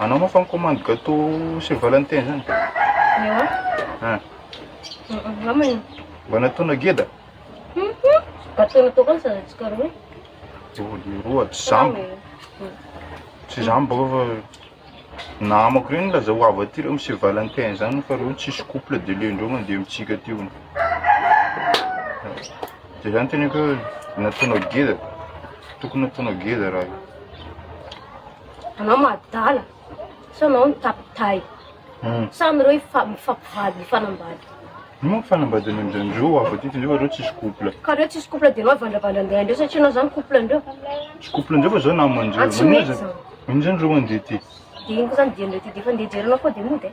Anao moa fa mi-commande gâteau Saint Valentin zany? Ewa. Ah. Namana. Mba nataona geda? Gâteau natao koa sa tsy karoa. Joa dia roa, tsy zamba. Tsy zamba koa fa namako reny laza ho avy aty reo Monsieur Valentin zany fa reo tsisy couple de lendreo mandeha amintsika aty hono. De zany teneko hoe nataonao geda, tokony nataonao geda raha io. Anao madala, sao anao ny tapitay. Hmm. Samy ireo ifa- mifampivady, mifanambady. Io moa fanambady any amin'izany ndreo ho avy aty fa nefa reo tsisy couple. Ka reo tsisy couple de anao avandravandra andeha andreo satria anao zany couple ndreo. Tsy couple ndreo fa zao namandreo. Ah, tsy Maninona mety zany? zany? Maninona zany reo mandeha aty? De ino koa zany dian'ireo ty de efa ndeha hijery anao foa de mody e.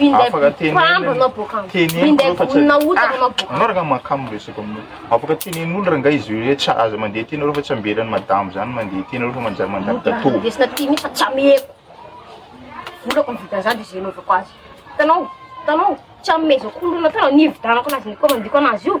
Minday mpambo anao boka. Minday vonona ota anao boka. Anao ranga makamo resaka aminao. Afaka tenen'olo ranga izy hoe tsy aza mandeha tena reo fa tsy ambelan'ny madame zany mandeha tena reo fa manjary mandany gato. Desina ty misa tsy ameko. Volako ny vidiny zany de zay novako azy. Tanao, tanao, tsy ameko koa lona tanao nividanako anazy ny komandiko anazy io.